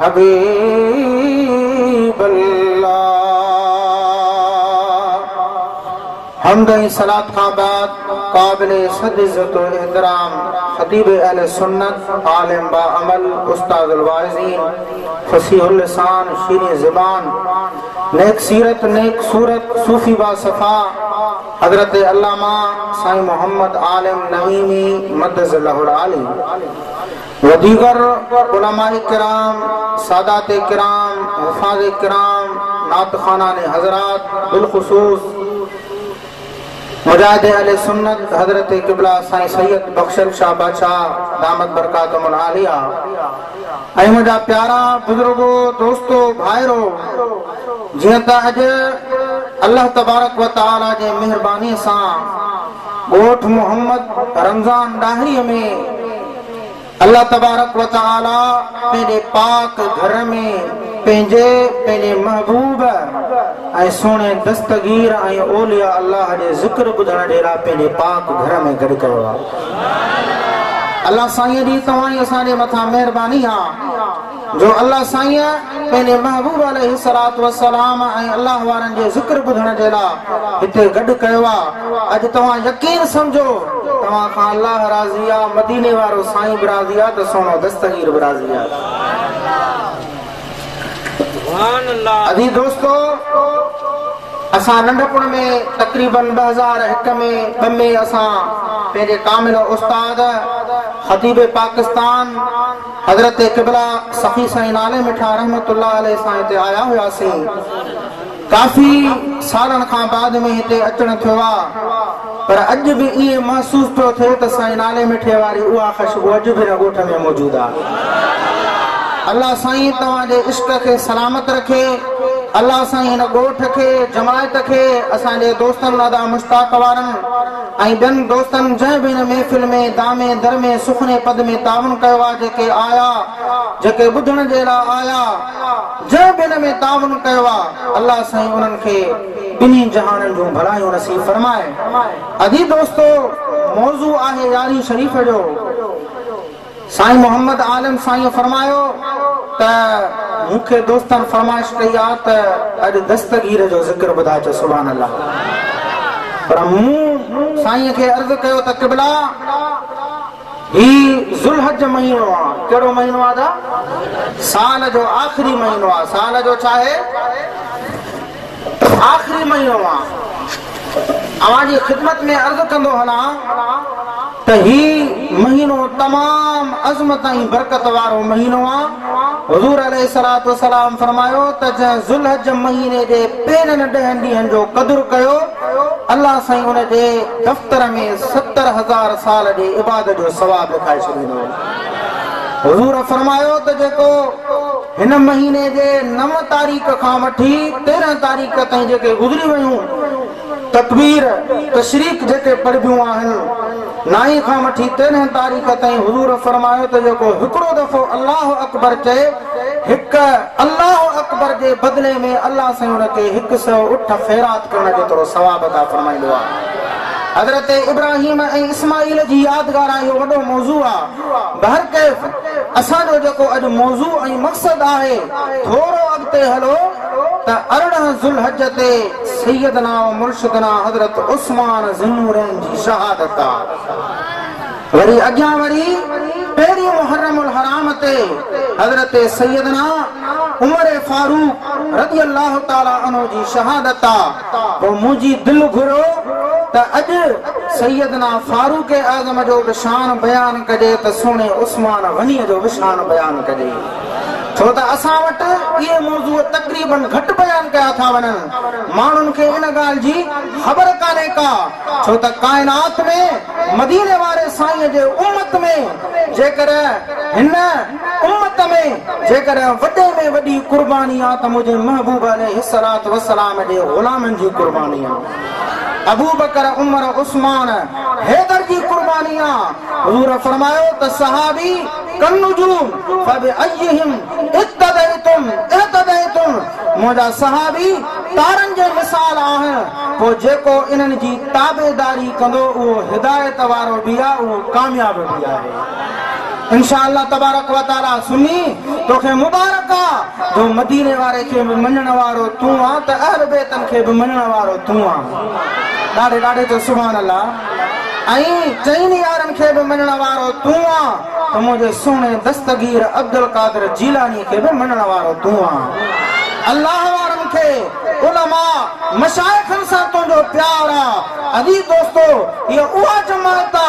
حبيب الله حمد ۽ صلات کان بعد قابل صد عزت و احترام خطيب اهل سنت عالم با عمل استاد الواعظين فصيح اللسان شيرين زبان نيڪ سيرت نيڪ صورت صوفي با صفا حضرت علامه سائين محمد عالم نعيمي مدذ الله العالي و ديگر علماء ڪرام، سادات ڪرام، حفاظ ڪرام، نعت خوانان حضرات بالخصوص مجاهد اهل سنت حضرت قبله سائين سيد بخشل شاهه باچا دامت برڪاتهم العاليه ۽ منهنجا پيارا بزرگو دوستو ڀائرو جيئن ته اڄ الله تبارڪ و تعالي جي مهرباني سان ڳوٺ محمد رمضان ڏاهري ۾ الله تبارڪ و تعالي پنهنجي پاڪ گهر ۾ پنهنجي پنهنجي محبوب ۽ سهڻي دستگير ۽ اولياء الله جي ذڪر ٻڌڻ جي لاء پنهنجي پاڪ گهر ۾ گڏ ڪيو آهي الله سائين جي توهان جي اسان جي مٿان مهرباني آهي جو الله سائين پنهنجي محبوب عليه الصلوة والسلام ۽ الله وارن جي ذڪر ٻڌڻ جي لا هتي گڏ ڪيو آ اڄ توهان يقين سمجهو توهان کان الله راضي آ مديني وارو سائين به راضي آ ته سهڻو دستگير به راضي آ ادي دوستو اسان ننڍپڻ ۾ تقريبا ٻه هزار هڪ ۾ ٻه ۾ اسان پنهنجي ڪامل استاد خطيب پاڪستان حضرت قبلا سخي سائين نالي مٺا رحمت الله عليه سان هتي آيا هياسين ڪافي سالن کان بعد ۾ هتي اچڻ ٿيو آ پر اڄ به ائين محسوس پيو ٿئي ته سائين نالي مٺي واري اها خشبو اڄ به هن ڳوٺ ۾ موجود آ الله سائين توهان جي عشق کي سلامت رکي الله سائين هن ڳوٺ کي جماعت کي اسان جي دوستن ادا مشتاق وارن ۽ ٻين دوستن جنهن به هن محفل ۾ دامي درمي سخني پد ۾ تعاون ڪيو آ جيڪي آيا جيڪي ٻڌڻ جي لا آيا جنهن به هن ۾ تعاون ڪيو آ الله سائين انهن کي ٻنهي جهانن جون ڀلايون نصيب فرمائي ادي دوستو موضوع آهي يارين شريف جو سائين محمد عالم سائينء فرمايو ته مون کي دوستن فرمائش ڪئي آ ته اڄ دستگير جو ذڪر ٻڌاء چو سبحان الله پر مون سائينء کي عرض ڪيو ته قبلا هي ذوالحج مهينو آ ڪهڙو مهينو آ دا سال جو آخري مهينو آ سال جو ڇاهي آخري مهينو آ اوهان جي خدمت ۾ عرض ڪندو هلان ته هي مهينو تمام عظمت ۽ برڪت وارو مهينو آ حضور عليه الصلوة والسلام فرمايو ته جنهن ذوالحج مهيني جي پهرين ڏهن ڏينهن جو قدر ڪيو الله سائين ان جي دفتر ۾ ستر هزار سال جي عبادت جو ثواب لکائي ڇڏيندو حضور فرمايو ته جيڪو هن مهيني جي نو تاريخ کان وٺي تيرهن تاريخ تائين جيڪي گذري ويون تڪبير تشريق جيڪي پڙهبيون آهن نائين کان وٺي تيرهن تاريخ تائين حضور فرمايو ته جيڪو هڪڙو دفعو الله اڪبر چئي هڪ الله اڪبر جي بدلي ۾ الله سائين ان کي هڪ سئو اٺ خيرات ڪرڻ جيترو ثواب عطا فرمائيندو آهي حضرت ابراهيم ۽ اسماعيل جي يادگار اهو وڏو موضوع آهي. بهرڪيف اسان جو جيڪو اڄ موضوع ۽ مقصد آهي ٿورو اڳتي هلو ته ارڙهن ذوالحج تي سيدنا و مرشدنا حضرت عثمان ذوالنورين جي شهادت آ وري اڳيان وري پهرين محرم الحرام تي حضرت سيدنا عمر فاروق رضي الله تعالٰي عنه جي شهادت آ. پوء منهنجي دل گهريو ته اڄ سيدنا فاروق اعظم جو به شان بيان ڪجي ته سهڻي عثمان غنيء جو به شان بيان ڪجي ڇو ته اسان وٽ اهي موضوع تقريباً گهٽ بيان ڪيا ٿا وڃن ماڻهن کي ان ڳالهه جي خبر ڪانهي ڪا ڇو ته ڪائنات ۾ مديني واري سائينء جي امت ۾ جيڪڏهن هن امت ۾ جيڪڏهن وڏي ۾ وڏي قرباني آ ته منهنجي محبوب عليه الصلوة والسلام جي غلامن جي قرباني آ. ابوبڪر، عمر، عثمان، حيدر جي قرباني آ. حضور فرمايو ته صحابي ڪالنجوم فبأيهم اقتديتم اهتديتم منهنجا صحابي تارن جي مثال آهن پوء جيڪو انهن جي تابعداري ڪندو اهو هدايت وارو به آ اهو ڪامياب به آهي. انشاء الله تبارک و تعالي سني توکي مبارڪ آ جو مديني واري کي به مڃڻ وارو تون آ ته اهل بيتن کي به مڃڻ وارو تون آ ڏاڍي ڏاڍي چو سبحان الله ۽ چئني يارن کي به مڃڻ وارو تون آ ته منهنجي سهڻي دستگير عبدالقادر جيلاني کي به مڃڻ وارو تون آ الله وارن کي علماء مشائخن سان تنهنجو پيار آ ادي دوستو هيء اها جماعت آ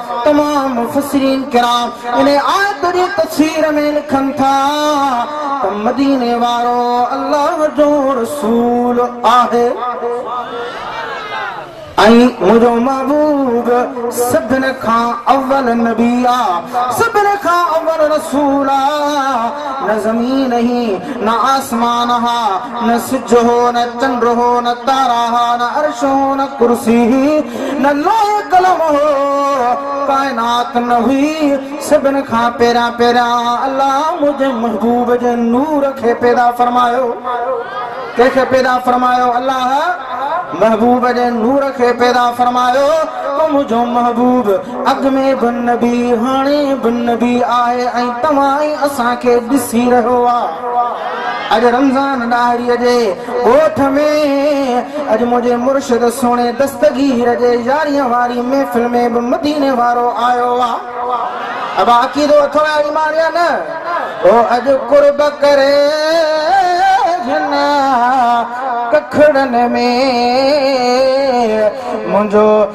تمام مفسرين ڪرام ان آيت جي تفسير ۾ لکن ٿا ته مديني وارو الله جو رسول آهي ۽ منهنجو محبوب سڀن کان اول نبي آ سڀن کان اول رسول آ نه زمين هي نه آسمان ها نه سج هو نه چنڊ هو نه تارا ها نه عرش هو نه ڪرسي هي نه لوح قلم هو، ڪائنات نه هئي، سڀن کان پهريان پهريان الله منهنجي محبوب جي نور کي پيدا فرمايو. ڪنهن کي پيدا فرمايو؟ الله محبوب جي نور کي پيدا فرمايو ته منهنجو محبوب اڳ ۾ به نبي، هاڻي به نبي آهي ۽ توهان ۽ اسان کي ڏسي رهيو آهي. اڄ رمضان ڏاهري جي ڳوٺ ۾، اڄ منهنجي مرشد سهڻي دستگير جي يارينء واري محفل ۾ به مديني وارو آيو آ. ابا عقيدو اٿو يا ايمان يا نه؟ او اڄ قرب ڪري هن ڪکڙن ۾، منهنجو.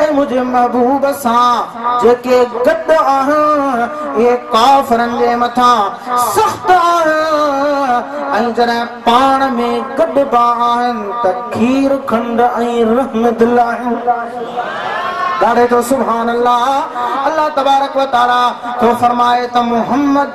اي منهنجي محبوب سان جيڪي گڏ آهن اهي ڪافرن جي مٿان سخت آهن ۽ جڏهن پاڻ ۾ گڏبا آهن ته کير کنڊ ۽ رحم دل آهن ڳاڙهي ٿو سبحان الله الله تبارڪ وتعالي ٿو فرمائي ته محمد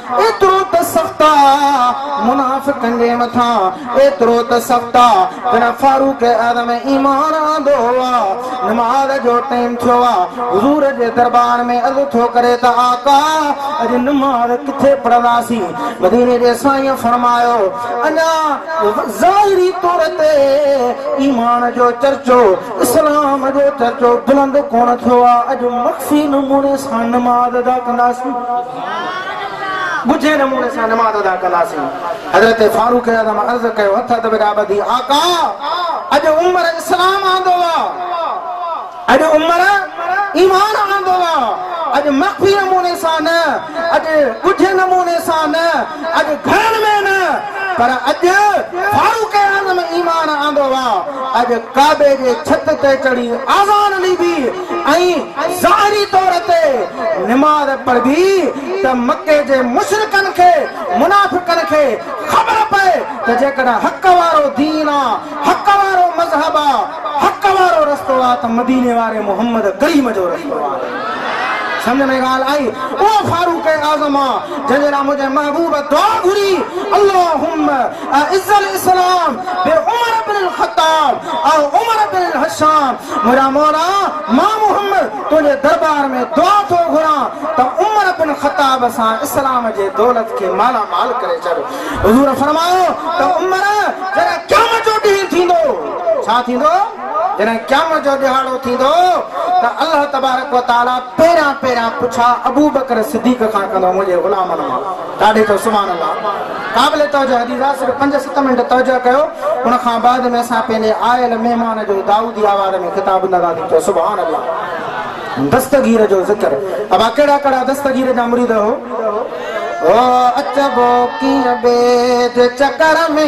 ايترو ته سخت آ منافقن جي مٿان، ايترو ته سخت آ جڏهن فاروق اعظم ايمان آندو آ، نماز جو ٽيم ٿيو آ، حضور جي دربار ۾ عرض ٿو ڪري ته آقا اڄ نماز ڪٿي پڙهنداسين؟ مديني جي سائينء فرمايو اڃا ظاهري طور تي ايمان جو چرچو، اسلام جو چرچو بلند ڪونه ٿيو آ، اڄ مخفي نموني سان نماز ادا ڪنداسين. ڳجهي نموني سان نماز ادا ڪنداسين. حضرت فاروق اعظم عرض ڪيو، هٿ اڌ وڳا ٻڌي، آقا! اڄ عمر اسلام آندو آ، اڄ عمر ايمان آندو آ، اڄ مخفي نموني سان نه، اڄ ڳجهي نموني سان نه، اڄ گهرن ۾ نه پر اڄ فاروق اعظم ايمان آندو آ اڄ ڪعبي جي ڇت تي چڙهي آذان ڏيبي ۽ ظاهري طور تي نماز پڙهبي ته مڪي جي مشرڪن کي منافقن کي خبر پئي ته جيڪڏهن حق وارو دين آ حق وارو مذهب آ حق وارو رستو آ ته مديني واري محمد ڪريم جو رستو آهي سمجهه ۾ ڳالهه آئي اهو فاروق اعظم آ. جنهنجي لاء منهنجي محبوب دعا گهري، اللهم اعز الاسلام بعمر بن الخطاب او عمر بن الهشام منهنجا مولا مان محمد تنهنجي دربار ۾ دعا ٿو گهران ته عمر بن خطاب سان اسلام جي دولت کي مالا مال ڪري ڇڏ حضور فرمايو ته عمر جڏهن قيامت جو ڏينهن ٿيندو ڇا ٿيندو؟ جڏهن قيامت جو ڏهاڙو ٿيندو ته الله تبارڪ و تعالي پهريان پهريان پڇا ابوبڪر صديق کان ڪندو منهنجي غلامن مان ڪاڍي ٿو سبحان الله قابل توجه حديث آهي صرف پنج ست منٽ توجه ڪيو ان کان بعد ۾ اسان پنهنجي آيل مهمان جو دائودي آواز ۾ خطاب نه ٿا ٿي ٿو سبحان الله دستگير جو ذڪر ابا ڪهڙا ڪهڙا دستگير جا مريد هو او اچبو ڪيئن بيد چڪر ۾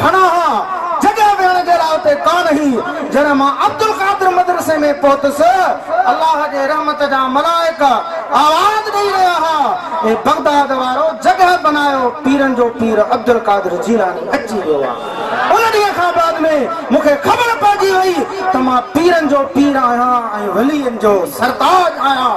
گهڻا ها، جڳهه ويهڻ جي لاء اتي ڪانه هئي. جڏهن مان عبدالقادر مدرسي ۾ پهتس، الله جي رحمت جا ملائڪ آواز ڏئي رهيا ها، اي بغداد وارو، جڳهه بنايو، پيرن جو پير عبدالقادر جيلاني اچي ويو آ. ان ڏينهن کان بعد ۾ مون کي خبر پئجي وئي ته مان پيرن جو پير آهيان ۽ ولين جو سرتاج آهيان.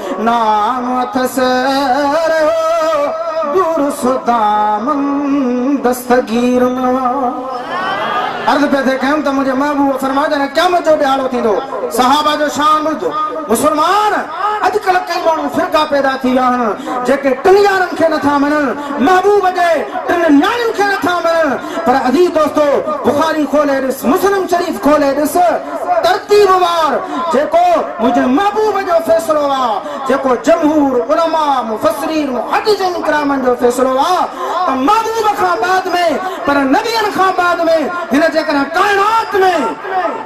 نام اٿس رهيو دور سودامن دستگير ۾. عرض پئي ٿئي ڪيم ته منهنجي محبوب فرمايو جڏهن قيامت جو ڏهاڙو ٿيندو صحابه جو شان ٻڌ مسلمان اڄڪلهه ڪئي ماڻهو فرقا پيدا ٿي ويا آهن جيڪي ٽن يارن کي نٿا مڃن محبوب جي ٽن نياڻين کي نٿا مڃن پر عزيز دوستو بخاري کولي ڏس مسلم شريف کولي ڏس ترتيب وار جيڪو منهنجي محبوب جو فيصلو آ جيڪو جمهور علماء مفسرين محدثين ڪرامن جو فيصلو آ ته محبوب کان بعد ۾ پر نبين کان بعد ۾ هن جيڪڏهن ڪائنات ۾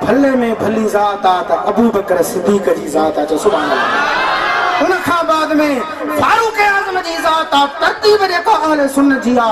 ڀلي ۾ ڀلي ذات آ ته ابوبڪر صديق جي ذات آ چؤ سبحان الله ان کان بعد ۾ فاروق اعظم جي ذات آ ترتيب جيڪا اهل سنت جي آ.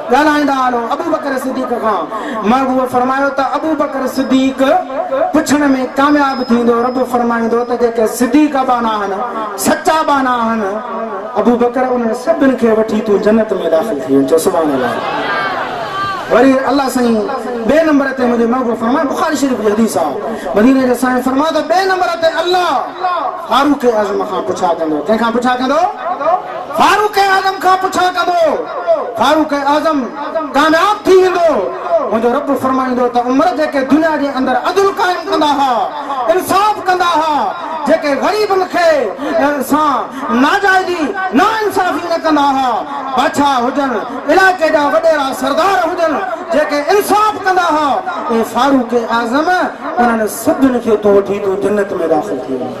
ڳالهائيندا هلون ابوبڪر صديق کان محبوب فرمايو ته ابوبڪر صديق پڇڻ ۾ ڪامياب ٿيندو رب فرمائيندو ته جيڪي صديق ابا ناهن سچا ابا ناهن ابوبڪر انهن سڀن کي وٺي تون جنت ۾ داخل ٿي وڃ چؤ سبحان الله وري الله سائين ٻئي نمبر تي منهنجي محبوب فرمايو بخاري شريف جي حديث آهي مديني جي سائين فرمايو ته ٻئي نمبر تي الله فاروق اعظم کان پڇا ڪندو ڪنهن کان پڇا ڪندو فاروق اعظم کان پڇا ڪبو، فاروق اعظم ڪامياب ٿي ويندو، منهنجو رب فرمائيندو ته عمر جيڪي دنيا جي اندر عدل قائم ڪندا ها، انصاف ڪندا ها، جيڪي غريبن کي سان ناجائزي، ناانصافي نه ڪندا ها، بادشاهه هجن، علائقي جا وڏيرا سردار هجن، جيڪي انصاف ڪندا ها، اي فاروق اعظم انهن سڀني کي تون وٺي تون جنت ۾ داخل ٿي وڃ.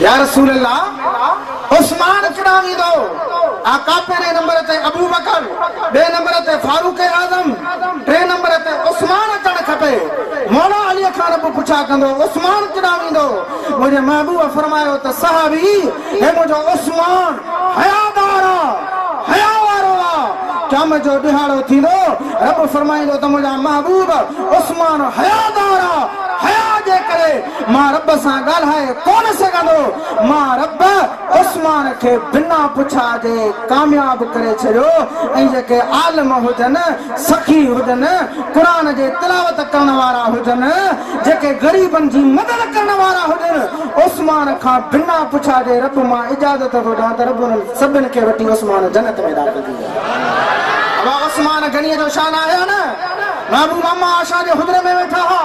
يا رسول الله عثمان ڪڏهن ويندو؟ آقا پهرين نمبر تي ابوبڪر، ٻئي نمبر تي فاروق اعظم، ٽئين نمبر تي عثمان اچڻ کپي. مولا علي کان رب پڇا ڪندو عثمان ڪڏهن ويندو؟ منهنجي محبوب فرمايو ته صحابي هي منهنجو عثمان حيادار آ، حيا وارو آ، قيامت جو ڏهاڙو ٿيندو رب فرمائيندو ته منهنجا محبوب عثمان حيادار آ، حيا جي ڪري مان رب سان ڳالهائي ڪونه سگهندو. مان رب عثمان کي بنا پڇا جي ڪامياب ڪري ڇڏيو ۽ جيڪي عالم هجن، سخي هجن، قرآن جي تلاوت ڪرڻ وارا هجن، جيڪي غريبن جي مدد ڪرڻ وارا هجن، عثمان کان بنا پڇا جي رب مان اجازت ٿو ڏيان ته رب انهن سڀن کي وٺي عثمان جنت ۾ داخل ٿي ويو. ابا عثمان غنيء جو شان آهيا نه؟ محبوب اما عائشه جي حجري ۾ ويٺا ها.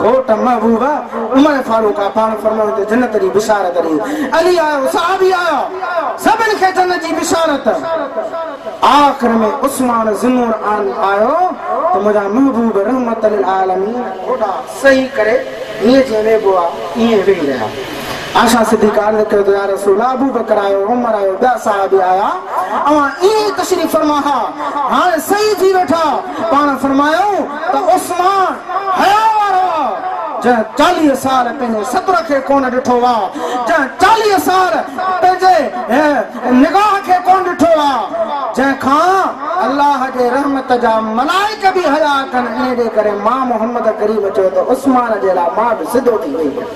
گهوٽ محبوبه عمر فاروق آ پاڻ فرمايو ته جنت جي بشارت ڏي علي آيو صحابي آيا سڀن کي جنت جي بشارت آخر ۾ عثمان ذنون عان آيو ته منهنجا محبوب رحمت للعالمين گهوٽا صحيح ڪري هيئن جيئن ويهبو آ ايئن ويهي رهيا. عائشه صديقه عرض ڪيو ته يا رسول الله ابوبڪر آيو، عمر آيو، ٻيا صحابي آيا، اوهان ائين ئي تشريف فرما ها، هاڻي صحيح ٿي ويٺا، پاڻ فرمايائون ته عثمان حياء وارو آ، جنهن چاليهه سال پنهنجي ستر کي ڪونه ڏٺو آ، جنهن چاليهه سال پنهنجي نگاهه کي ڪونه ڏٺو آ، جنهن کان الله جي رحمت جا ملائڪ به حياء ڪن، انهيء جي ڪري مان محمد ڪريم چيو ته عثمان جي لاء مان به سڌو ٿي ويس.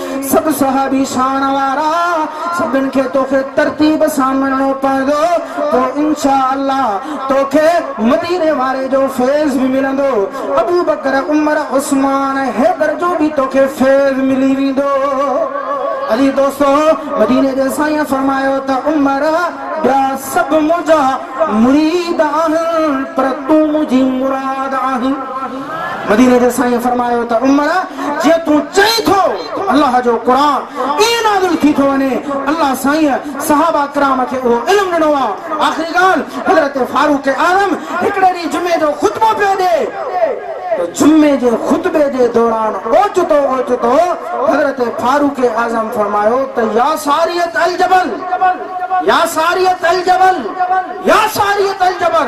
سڀ صحابي ساڻ وارا، سڀن کي توکي ترتيب سان ملڻو پوندو، پوء انشاء الله توکي مديني واري جو فيض به ملندو، ابوبڪر، عمر، عثمان، حيدر جو به توکي فيض ملي ويندو. عزيز دوستو! مديني جي سائينء فرمايو ته عمر! ٻيا سڀ منهنجا مريد آهن، پر تون منهنجي مراد آهين. مديني جي سائين فرمايو ته عمر جيئن تون چئين ٿو الله جو قرآن ائين نازل ٿي ٿو وڃي الله سائين صحابه ڪرام کي اهو علم ڏنو آ آخري ڳالهه حضرت فاروق اعظم هڪڙي ڏينهن جمعي جو خطبو پيو ڏي ته جمعي جي خطبي جي دوران اوچتو اوچتو حضرت فاروق اعظم فرمايو ته يا ساريه الجبل يا ساريه الجبل يا ساريه الجبر.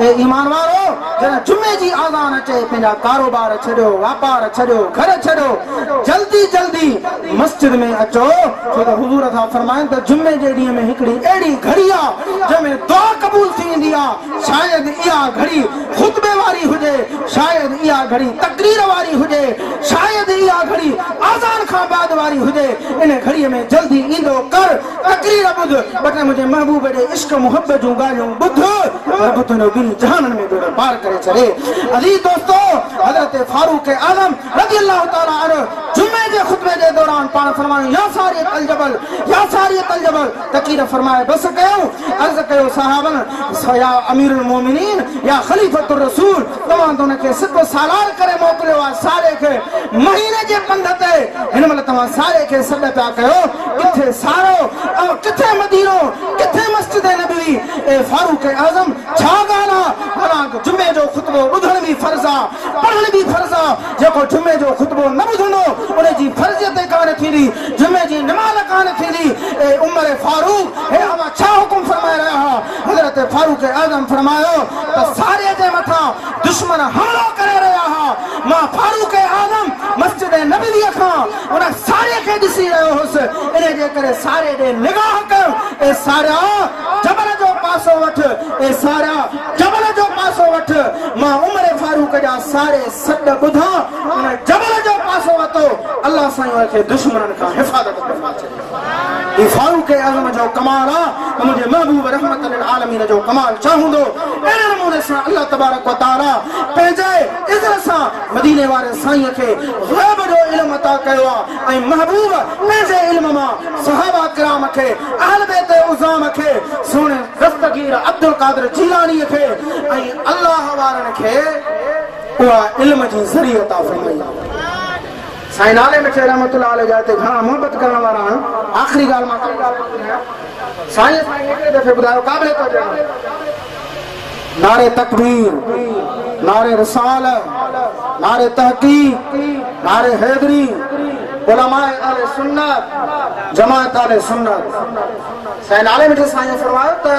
اي ايمان وارؤ! جڏهن جمعي جي آذان اچي، پنهنجا ڪاروبار ڇڏيو، واپار ڇڏيو، گهر ڇڏيو، جلدي جلدي مسجد ۾ اچو، ڇو ته حضور ٿا فرمائن ته جمعي جي ڏينهن ۾ هڪڙي اهڙي گهڙي آ، جنهن ۾ دعا قبول ٿي ويندي آ، شايد اها گهڙي خطبي واري هجي، شايد اها گهڙي تقرير واري هجي، شايد اها گهڙي آذان کان بعد واري هجي، ان گهڙي ۾ جلدي ايندو ڪر. تقرير ٻڌ، ٻٽي منهنجي محبوب جي عشق محبت جون ڳالهيون ٻڌ، رب تنهنجو ٻنهي جهانن ۾ ٻيڙو پار ڪري ڇڏي. عزيز دوستو! حضرت فاروق اعظم رضي الله تعالٰي عنه جمعي جي خطبي جي دوران پاڻ فرمايو، يا سارية الجبل، يا سارية الجبل، تقرير فرمائي بس ڪيائون، عرض ڪيو صحابن، يا امير المومنين، يا خليفة الرسول، توهان ته هن کي سپ سالار ڪري موڪليو آهي، ساري کي مهيني جي پنڌ تي، هن مهل توهان ساري کي سڏ پيا ڪيو، ڪٿي سارو ۽ ڪٿي مدينو، ڪٿي مسجد نبوي، اي فاروق اعظم ڇا ڳالهه آ، حالانڪ جمعي جو خطبو ٻڌڻ به فرض آ، پڙهڻ به فرض آ، جيڪو جمعي جو خطبو نه ٻڌندو ان جي فرضيت ئي ڪانه ٿيندي، جمعي جي نماز ڪانه ٿيندي، اي عمر فاروق هي اوهان ڇا حڪم فرمائي رهيا آهيو، حضرت فاروق اعظم فرمايو ته ساري جي مٿان دشمن حملو ڪري رهيا آهيا، مان فاروق اعظم مسجد نبوي کان هن ساريء کي ڏسي رهيو هوس، انهيء جي ڪري ساريء ڏي نگاهه ڪيم. اي ساريٰ! جبل جو پاسو وٺ! اي ساريٰ! جبل جو پاسو وٺ! مان عمر فاروق جا ساري سڏ ٻڌا، ان جبل جو پاسو ورتو، الله سائين ان کي دشمنن کان حفاظت فرمائي ڇڏي. هي فاروق اعظم جو ڪمال آ ته منهنجي محبوب رحمت للعالمين جو ڪمال ڇا هوندو؟ اهڙي نموني سان الله تبارڪ و تعاليٰ پنهنجي عزت سان مديني واري سائين کي غيب جو علم عطا ڪيو آ ۽ محبوب پنهنجي علم مان صحابه ڪرام کي اهل بيت عظام کي سهڻي دستگير عبدالقادر جيلاني کي ۽ الله وارن کي اها علم جي ذري عطا فرمائي آ. سائين نالي مٺي رحمت الله عليه جا هتي گهڻا محبت ڪرڻ وارا آهن آخري ڳالهه مان ڪا ڳالهه نه ٻڌايان سائين اسان کي هڪڙي دفعي ٻڌايو قابل توجه آهي. نعري تڪبير، نعري رساله، نعري تحقيق، نعري حيدري، علماء اهل سنت، جماعت اهل سنت. سائين نعري مٺي سائينء فرمايو ته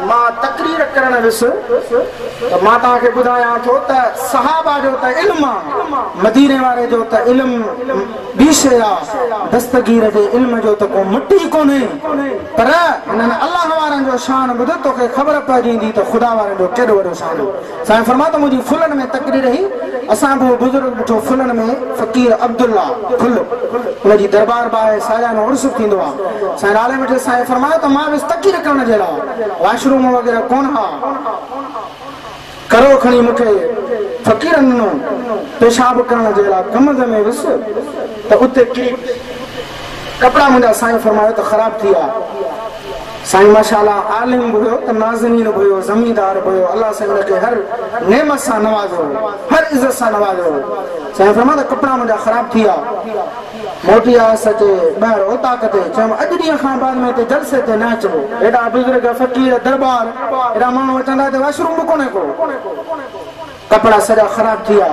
مان تقرير ڪرڻ ويس ته مان توهان کي ٻڌايان ٿو ته صحابه جو ته علم آ، مديني واري جو ته علم ٻي شيء آ دستگير جي علم جو ته ڪو مٽ ئي ڪونهي پر هنن الله وارن جو شان ٻڌ توکي خبر پئجيندي ته خدا وارن جو ڪيڏو وڏو شان آ سائين فرمايو ته منهنجي ڦلن ۾ تقرير هئي اسان به اهو بزرگ ڏٺو ڦلن ۾ فقير عبدالله ڦل ان جي دربار به آهي ساليانو عرس به ٿيندو آ سائين نالي مٽي سائين فرمايو ته مان ويس تقرير ڪرڻ جهڙا واش روم وغيره ڪونه ها ڪرو کڻي مون کي فقيرن ڏنو، پيشاب ڪرڻ جي لاء ڪمند ۾ ويس ته اتي ڪري پيس، ڪپڙا منهنجا سائين فرمايو ته خراب ٿي ويا، سائين ماشاء الله عالم به هيو ته نازنين به هيو، زميندار به هيو، الله سائين ان کي هر نعمت سان نوازيو هو، هر عزت سان نوازيو هو، سائين فرمايو ته ڪپڙا منهنجا خراب ٿي ويا. موٽي آيس اچي ٻاهر اوطاق تي چيم اڄ ڏينهن کان بعد ۾ هتي جلسي تي نه اچبو ايڏا بزرگ فقير درٻار ايڏا ماڻهو اچن ٿا هتي واشروم به ڪونهي ڪو ڪپڙا سڄا خراب ٿي ويا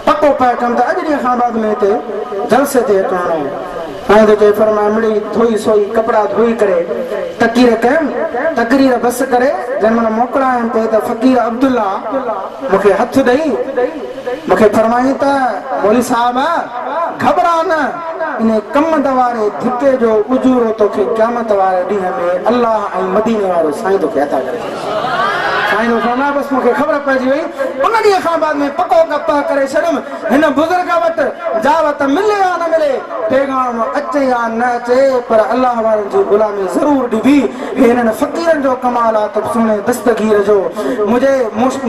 پڪو پهه ڪيم ته اڄ ڏينهن کان بعد ۾ هتي جلسي تي هٿ هڻو ائين ٿو چئي فرمائي مڙئي ڌوئي سوئي ڪپڙا ڌوئي ڪري تقرير ڪيم تقرير بس ڪري جنهن مهل موڪلائيم پئي ته فقير عبدالله مون کي هٿ ڏئي مون کي فرمائين ته مولوي صاحب گهٻرا نه، انهي ڪمند واري ڌڪي جو اجورو توکي قيامت واري ڏينهن ۾ الله ۽ مديني وارو سائين توکي عطا ڪري ڇڏيندو. سائين جو فرمان بس مون کي خبر پئجي وئي. ان ڏينهن کان بعد ۾ پڪو پهه ڪري ڇڏيم هن بزرگ وٽ جاوت ملي يا نه ملي، پيغام اچي يا نه اچي پر الله وارن جي غلامي ضرور ڏبي هي انهن فقيرن جو ڪمال آ ته سهڻي دستگير جو منهنجي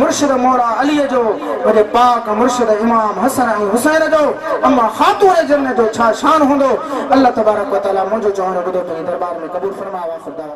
مرشد مولا عليء جو منهنجي پاڪ مرشد امام حسن ۽ حسين جو اما خاتون جن جو ڇا شان هوندو الله تبارڪ وتعالي منهنجو چوڻ ٻڌو پنهنجي دربار ۾ قبول فرماء واخر دعوانا.